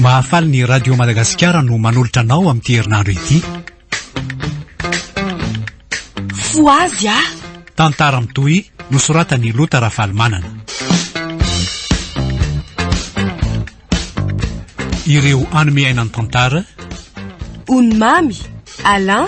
Mahafaly ny Radio Madagasikara no manolotra anao amin'ity herinandro ity. Foazy ah! Tantara mitohy nosoratan'i Lota Rafalimanana. Ireo anome aina ny tantara. Onimamy, Alain,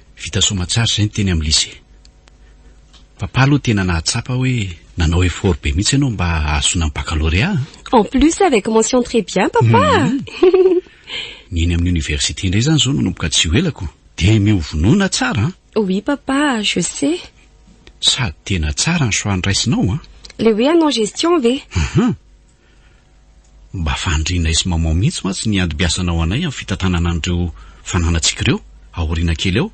Vita soa aman-tsara izay ny teny amin'ny lycée. Papa aloha tena nahatsapa hoe nanao effort be mihitsy ianao mba hahazoana ny baccalauréat a! En plus avec mention très bien papa a! Ny eny amin'ny université indray izany izao nanomboka tsy ho elako dia mihovonona tsara an! Oui papa a! Je sais! Sady tena tsara ny choix niraisinao an! Le hoe hanao gestion ve? Ahaa! Mba fandrinay sy maman mihitsy mantsy ny andibiasanao anay amin'ny fitantanana an'ireo fananantsika ireo aoriana kely eo.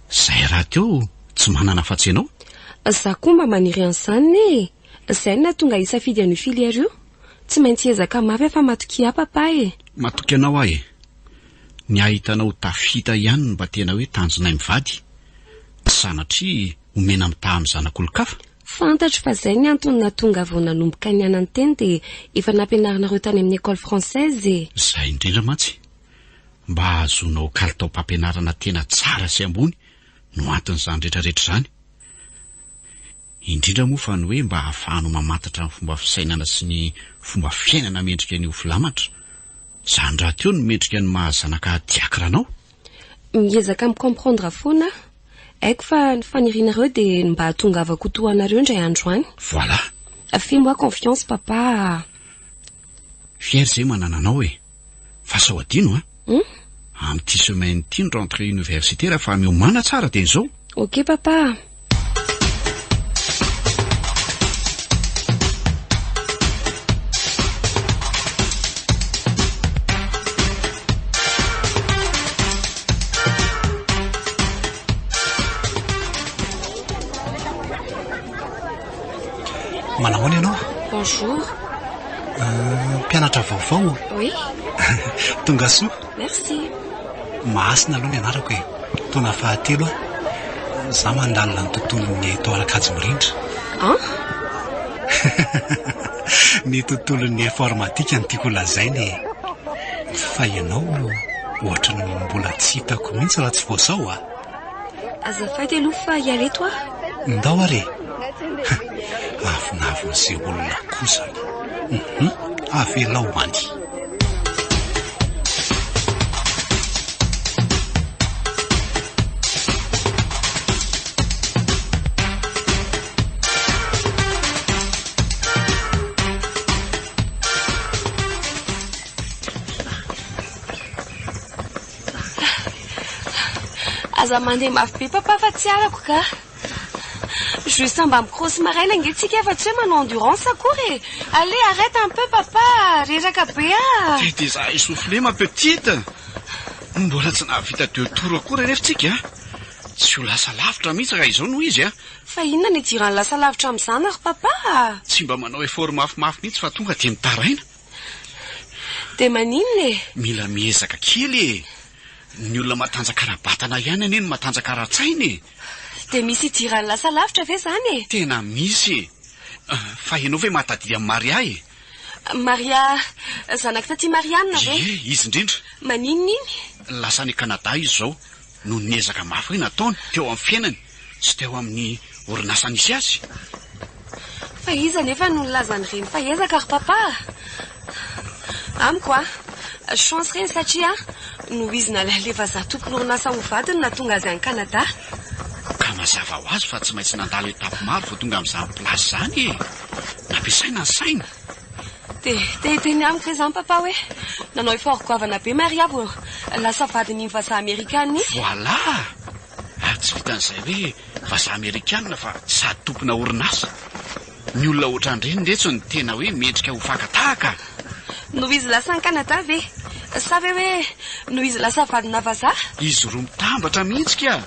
Zay rahateo tsy manana afa-tsy ianao. Za koa mba maniry an'zany ne e! Zay no nahatonga hisafidy an'io filière io. Tsy maintsy hiezaka mafy aho fa matokia ahy papa e! Matoky anao aho e! Ny ahitanao tafita ihany no mba tena hoe tanjonay mivady. Tsy sanatria. omena mitaha amin'ny zanak'olon-kafa? Fantatro fa izay ny antony nahatonga vao nanomboka niana ny teny dia efa nampianarinareo tany amin'ny Ecole Française e! Izay indrindra mantsy, mba hahazoanao kalitaom-pampianarana tena tsara sy ambony no anton'izany rehetrarehetra izany. Indrindra moa fa ny hoe mba hahafahanao mamantatra ny fomba fisainana sy ny fomba fiainana mendrika ny ho filamatra, izany rahateo no mendrika ny maha zanaka diakra anao. Miezaka mi comprendre foana aho. Haiko fa ny fanirianareo dia ny mba hahatongavako ho toa anareo indray andro any. Voilà. Fais-moi confiance papa a. Fier zay manana anao e. Fa sao adino an. Amin'ity semaine ity ny rentrée universitaire fa miomana tsara dia izao. Ok papa a. Manahoana ianao? Bonjour. Euh, mpianatra vaovao? Oui. Tonga soa. Merci. Mahasina aloha ny anarako e! Taona fahatelo aho za mandalina ny tontolon'ny Tao Arakajy Mirindra. An? Ny tontolon'ny informatika no tiako ho lazaina e! Fa ianao ohatran'ny mbola tsy hitako mihitsy raha tsy vao zao a! Azafady aloha fa hiareto aho. Ndao ary e! Ha, avonavon'izay olona koa izany. Hum, avelao ho any. Aza mandeha mafy be papa fa tsy halako ka. Juste mba mi-cross maraina ange tsika fa tsy hoe manao endurance akory e. Allez arrête un peu papa, reraka be ah. Dia dia za essoufflé ma petite. Mbola tsy nahavita deux tours akory anefa tsika. Tsy ho lasa lavitra mihitsy raha izao no izy ah. Fa inona no idiran'ny lasa lavitra amin'izany ry papa ah. Tsy mba manao effort mafimafy mihitsy fa tonga dia mitaraina. Dia maninona e? Mila miezaka kely e! Ny olona matanjaka ara-batana ihany anie no matanjaka ara-tsaina e! Dia misy idiran'ny lasa lavitra ve izany e? Tena misy e! Fa ianao ve mahatadidy an'i Maria e? Maria zanak'i Taty Marianina ve? Ie, izy indrindra. Maninona iny? Lasa any Canada izy izao. noho ny ezaka mafy nataony teo amin'ny fiainany sy teo amin'ny orinasa nisy azy. Fa iza anefa no nilaza an'ireny fa ezaka ry Papa a! Amiko a, chance ireny satria nohizina ilay halefa zato tompon'orinasa ho vadiny nahatonga azy any Canada. Ka mazava ho azy fa tsy maintsy nandalo étape maro vao tonga amin'izany place izany e! Nampiasaina ny sainy. Dia te-hiteny amiko ve izany Papa hoe nanao effort goavana be Maria vao lasa vadin'iny vazaha amerikana iny? Voilà! Ary tsy vitan'izay hoe vazaha amerikana fa sady tompona orinasa. Ny olona ohatran'ireny retsy no tena hoe mendrika ho fakan-tahaka a! Noho izy lasa any Canada ve? Sa ve hoe noho izy lasa vadina vazaha? Izy roa mitambatra mihitsy kah!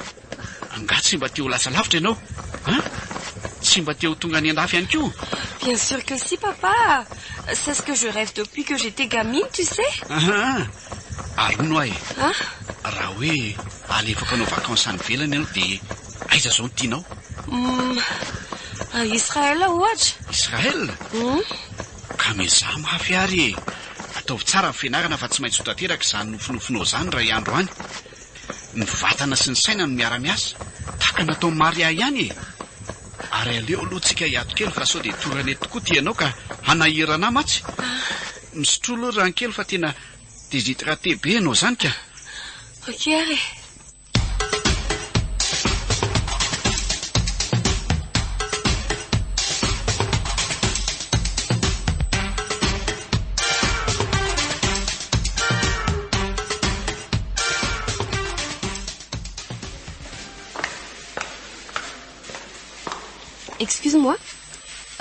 Angaha tsy mba te ho lasa lavitra ianao an? Tsy mba te ho tonga any andafy ihany koa? Bien sûr que si papa! C'est ce que je rêve depuis que j'étais gamine tu sais! Ahaa! Ary hono aho e! An? Raha hoe alefako hanao vacances any ivelany ianao dia aiza izao no tianao? Hum! A Israël ohatra! Israël? Hum! Ka miezaha mafy ary e! Ataovy tsara ny fianarana fa tsy maintsy ho tanteraka izany nofinofinao izany iray andro any! Ny vatana sy ny saina no miara-miasa, tahaka ny nataon'i Maria ihany e! Ary aleo aloha tsika hiato kely fa sao dia hitory an'eto tokoa ity ianao ka hanahirana ahy mantsy. Misotroa aloha rano kely fa tena déshydraté be ianao izany ka. Ok ary e. Excuse moi.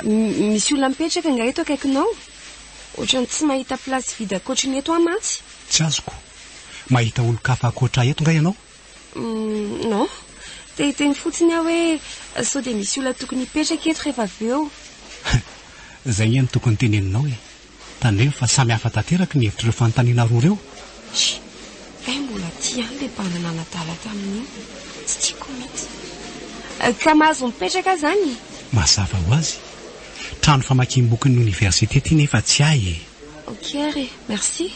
Misy olona mipetraka nga eto akaikinao? Ohatrany tsy mahita place vide akoatry ny eto aho mantsy. Tsy azoko. Mahita olon-kafa akoatra ahy eto nga ianao? Mm, non. Te hiteny fotsiny aho hoe sao dia misy olona tokony hipetraka eto rehefa avy eo. Zay nge no tokony teneninao e. Tandremo fa samy hafa tanteraky ny hevitr'ireo fanontaniana roa ireo. Hi! Kay mbola aty ihany le banda nanadala tamin'iny. Tsy tiako mihitsy. Ka mahazo mipetraka zany e? Mazava ho azy. Trano famakiam-bokin'ny oniversite ty nefa tsy ahy e! Ok ary, merci.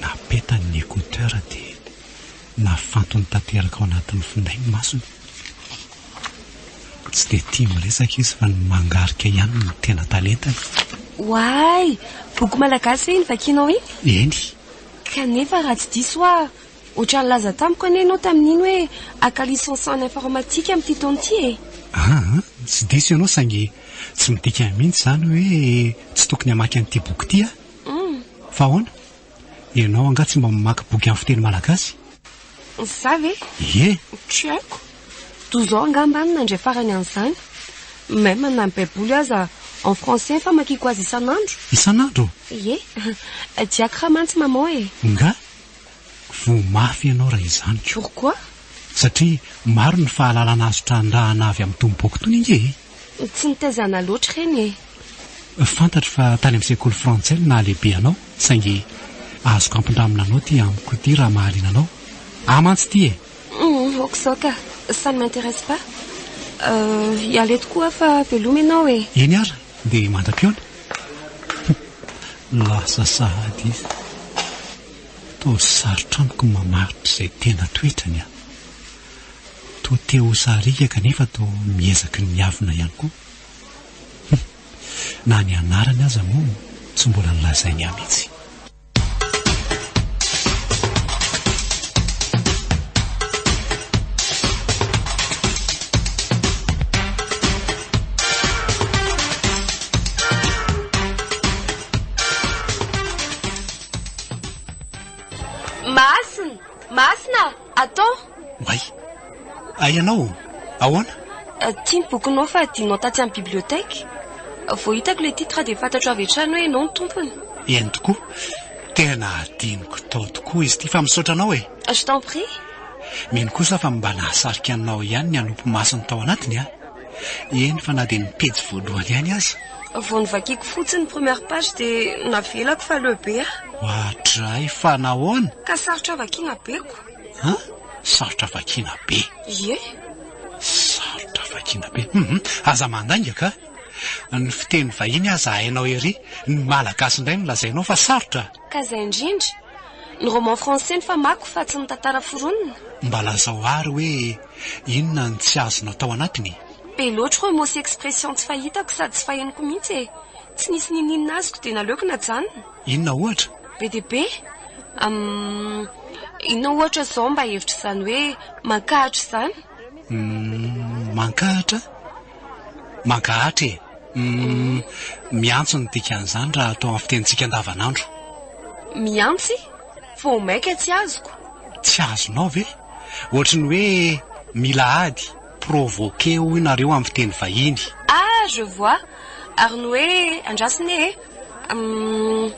Napetany ny écouteur dia nafantony tanteraka ao anatin'ny finday ny masony. Tsy dia tia miresaka izy fa ny mangarika ihany no tena talentany. Oay! Boky malagasy ve iny vakianao iny? Eny. Kanefa raha tsy diso aho, ohatran'ny nilaza tamiko anie ianao tamin'iny hoe haka licence en informatique amin'ity taona ity e? Aa, tsy diso ianao saingy tsy midika mihitsy izany hoe tsy tokony hamaky an'ity boky ity aho. Humm. Fa ahoana? Ianao angaha tsy mba mamaky boky amin'ny fiteny malagasy? Za ve? Ie! Tsy haiko. Toa izao angamba no nandre farany an'izany. Même na ny Baiboly aza en français famakiako azy isan'andro. Isan'andro? Ie! Diako raha mantsy maman e! Ngaha? Voa mafy ianao raha izany ka. Pourquoi? Satria maro ny fahalalana azo trandrahana avy amin'ny Tompo Boky Tony ange e! Tsy nitaizana loatra ireny e! Fantatro fa tany amin'ny sekoly frantsay no nahalehibe anao saingy azoko ampindramina anao ity amiko ity raha mahaliana anao. Ahy mantsy ity e! Humm, ok izao ka! Ça ne m'intéresse pas. Hiala eto koa aho fa veloma ianao e! Eny ary, dia mandra-pihaona! Humm, lasa sahady izy. Toa sarotra amiko ny mamaritra izay tena toetrany an! Toa te ho sariaka kanefa toa miezaky ny miavona ihany koa. Hum. Na ny anarany aza moa tsy mbola nolazainy ahy mihitsy. Masina, atô! Oay! Ay ianao, ahoana? Ity ny bokinao fa adinonao tatsy amin'ny bibliothèque. Vao hitako ilay titre dia fantatro avy hatrany hoe ianao no tompony. Eny tokoa, tena adinoko tao tokoa izy ity fa misaotra anao e! Je t'en prie! Mino kosa fa mba nahasarika anao ihany ny hanopy masony tao anatiny an! Eny fa na dia ny pejy voalohany ihany aza. Vao novakiako fotsiny ny première page dia navelako fa leo be ah. Oadray fa nahoana? Ka sarotra vakiana be ko. An? Sarotra vakiana be? Ie. Sarotra vakiana be. Hum, aza mandainga ka. Ny fiteny vahiny aza hainao ery, ny malagasy indray no lazainao fa sarotra? Ka izay indrindra. Ny roman français no famako fa tsy ny tantara foronina. Mba lazao àry hoe. Inona ny tsy azonao tao anatiny? Be loatra oa moa sy expression tsy fahitako sady tsy fahenoko mihitsy e! Tsy nisy niniana azoko dia naleoko najanona. Inona ohatra? Be dia be? Umm, inona ohatra izao mba hevitra izany hoe mankahatra izany? Umm, mankahatra? Mankahatra e! Umm, miantso no dikan'izany raha atao amin'ny fitenintsika andavanandro. Miantsy? Vao maika tsy azoko. Tsy azonao ve? Ohatry ny hoe mila ady, provoquer hoy nareo amin'ny fiteny vahiny. Ah je vois, ary ny hoe andrasina ee? Umm,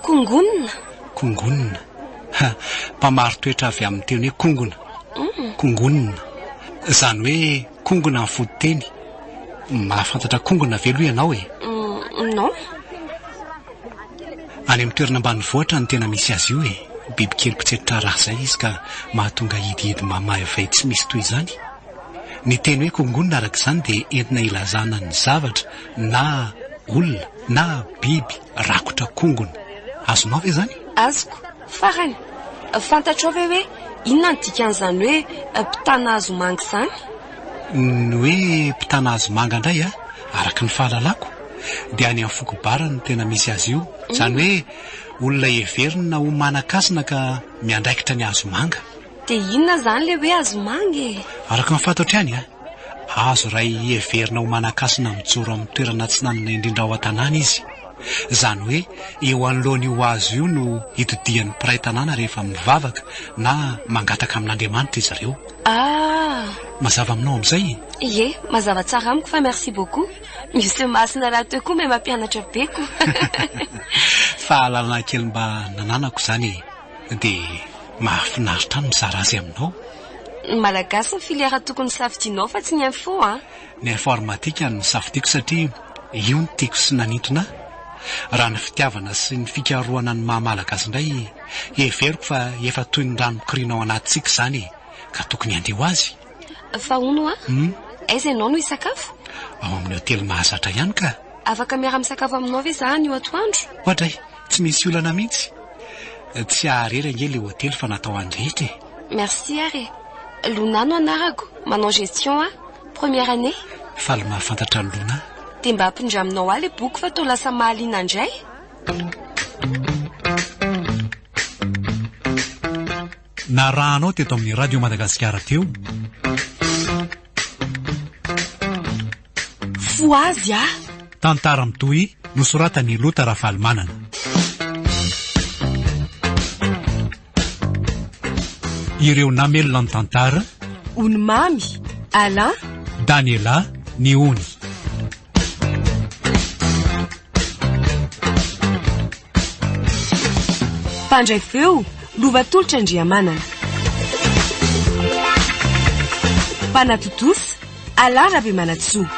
kongonona? Kongonona. Ha, mpamaritoetra avy amin'ny teny hoe kongona. Umm. Kongonona. Izany hoe. Kongona ny fototeny. Mahafantatra kongona ve aloha ianao e? Hum, non. Any amin'ny toerana ambanivohitra no tena misy azy io e. Bibikely mpitsetra rà izay izy ka mahatonga hidihidy mamaivay tsy misy toy izany. Ny teny hoe kongona araka izany dia entina hilazana ny zavatra na olona na biby rakotra kongona. Azonao ve izany? Azoko. Farany, fantatrao ve hoe inona ny dikan'izany hoe mpitana hazo manga izany? Ny hoe mpitana hazo manga indray a, araka ny fahalalako dia any amin'ny foko Bara no tena misy azy io. Izany hoe olona heverina ho manan-kasina ka miandraikitra ny hazo manga. Dia inona izany ilay hoe hazo manga e? Araka ny fantatro ihany a. Azo iray heverina ho manan-kasina mijoro amin'ny toerana atsinanana indrindra ao an-tanàna izy. Izany hoe eo anoloan'io hazo io no itodihan'ny mpiray tanàna rehefa mivavaka na mangataka amin'Andriamanitra izy ireo. Ah! Mazava aminao amin'izay e? Ie, mazava tsara amiko fa merci beaucoup Monsieur Masina raha teo koa mba mampianatra be ko. Fahalalana kely mba nananako izany e! Dia mahafinaritra ahy ny mizara azy aminao. Ny Malagasy ny filière tokony hosafidianao fa tsy ny info an! Ny informatika no nosafidiako satria io no tiako sy nanintona ahy. Raha ny fitiavana sy ny fikarohana ny maha Malagasy indray, heveriko fa efa toy ny rano mikoriana ao anatintsika izany e! Ka tokony handeha ho azy. Fa hono hoa? Aiza ianao no hisakafo? Ao amin'ny hotely mahazatra ihany ka! Afaka miara-misakafo aminao ve izaho anio atoandro? Oadray! Tsy misy olana mihitsy. Tsy haharera ange ilay hotely fa natao an'ny rehetra e. Merci ary e. Lona no anarako, manao gestion aho. Première année. Faly mahafantatra an'i Lona. Dia mba apindraminao ahy ilay boky fa toa lasa mahaliana indray. Narahanao teto amin'ny Radio Madagasikara teo. Fohazy ah! Tantara mitohy nosoratan' i Lota Rafalimanana. Ireo namelona ny tantara. Ony Mamy, Alain. Daniela, Ny ony. Mpandray feo, Lovatolotra Andriamanana. Mpanatontosa, Alain Rabemanantsoa.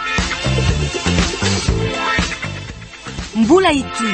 Mbola hitohy.